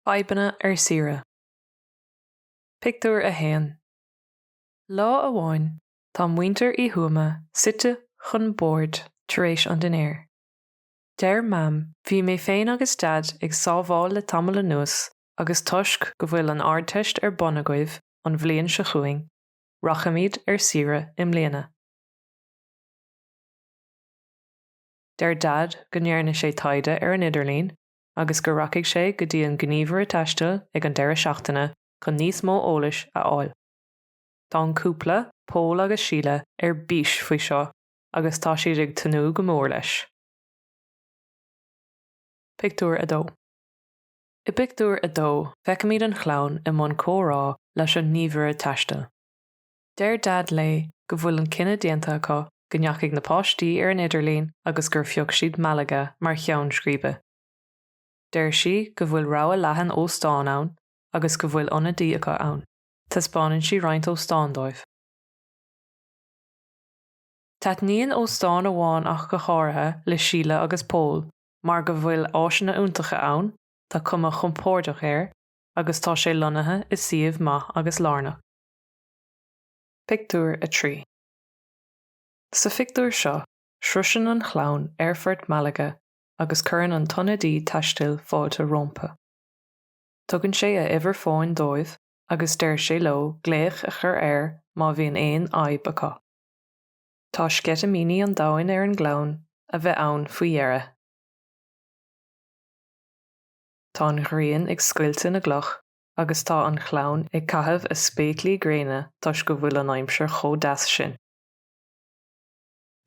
Fadhbanna ar saoire. Pictiúr 1 Lá amháin tá muintir Uí Thuama suite chun bord tar éis an dinnéir. Deir Mam 'Bhí mé féin agus Daid ag sábháil le tamall anuas agus toisc go bhfuil an Ardteist ar bun agaibh, an bhliain seo chugainn, rachaimid ar saoire i mbliana. Deir Daid go ndearna sé taighde ar an idirlíon agus go rachaidh sé go dtí an gníomhaire taistil ag an deireadh seachtaine chun níos mó eolais a fháil. Tá an cúpla, Pól agus Síle, ar bís faoi seo agus tá siad ag tnúth go mór leis. Pictiúr 2 I bpictiúr a dó, feicimid an chlann i mbun comhrá leis an ngníomhaire taistil. Deir Daid léi go bhfuil an cinneadh déanta acu, go ndeachaigh na páistí ar an idirlíon agus gur phioc siad Malaga mar cheann scríbe. Deir sí go bhfuil rogha leathan óstán ann agus go bhfuil ionadaí acu ann. Taispeánann sí roinnt óstán dóibh. Taitníonn óstán amháin ach go háirithe le Síle agus Pól mar go bhfuil áiseanna iontacha ann, tá cuma chompórdach air agus tá sé lonnaithe i suíomh maith agus lárnach. Pictiúr 3 Sa phictiúr seo, sroiseann an chlann aerfort Malaga agus cuireann an t-ionadaí taistil fáilte rómpa. Tugann sé a uimhir fóin dóibh agus deir sé leo glaoch a chur air má bhíonn aon fhadhb acu. Tá sceitimíní an domhain ar an gclann a bheith ann faoi dheireadh. Tá an ghrian ag scoilteadh na gcloch agus tá an chlann ag caitheamh a spéaclaí gréine toisc go bhfuil an aimsir chomh deas sin.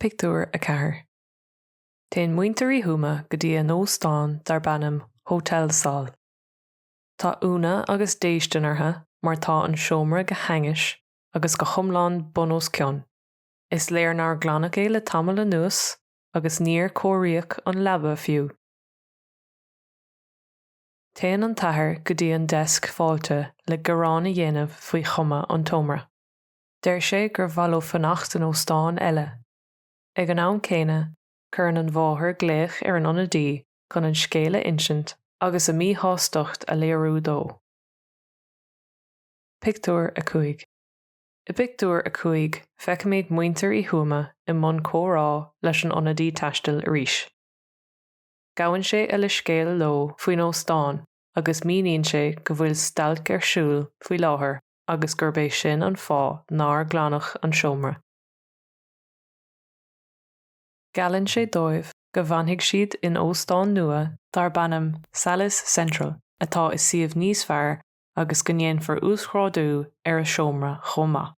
Pictiúr 4 Téann muintir Uí Thuama go dtí a n-óstán darb ainm Hotel Sol. Tá ionadh agus déistin orthu mar tá an seomra go hainnis agus go hiomlán bun os cionn. Is léir nár glanadh é le tamall anuas agus níor cóiríodh an leaba fiú. Téann an t-athair go dtí an deisc fáilte le gearán a dhéanamh faoi chuma an tseomra. Deir sé gur mhaith leo fanacht in óstán eile. Ag an am céanna, cuireann an mháthair glaoch ar an ionadaí chun an scéal a insint agus a míshástacht a léiriú dó. Pictiúr 5 I bpictiúr a cúig feicimid muintir Uí Thuama i mbun comhrá leis an ionadaí taistil arís. Gabhann sé a leithscéal leo faoin óstán agus míníonn sé go bhfuil stailc ar siúl faoi láthair agus gurb é sin an fáth nár glanadh an seomra. Geallann sé dóibh go bhfanfaidh siad in óstán nua darb ainm Salles Central atá i suíomh níos fearr agus go ndéanfar uasghrádú ar a seomra chomh maith.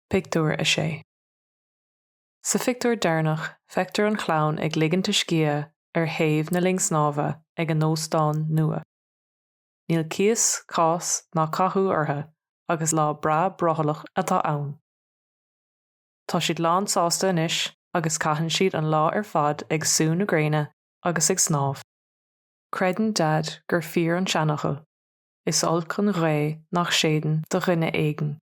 Pictiúr 6 Sa phictiúr deireanach feictear an chlann ag ligint a scíth ar thaobh na linne snámha ag a n-óstán nua. Níl cíos, cás ná cathú orthu agus lá breá brothallach atá ann. Tá siad lánsásta anois agus caitheann siad an lá ar fad ag sú na gréine agus ag snámh. Creideann Dad gur fíor an seanfhocal, Is olc an ghaoth nach séideann do dhuine éigin.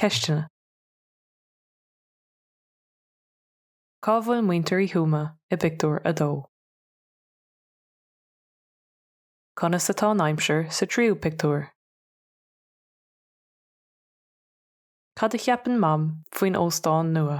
Ceisteanna. Cá bhfuil muintir Uí Thuama i bpictiúr a dó? Conas atá an aimsir sa tríú pictiúr? Cad a cheapann Mam faoin óstán nua?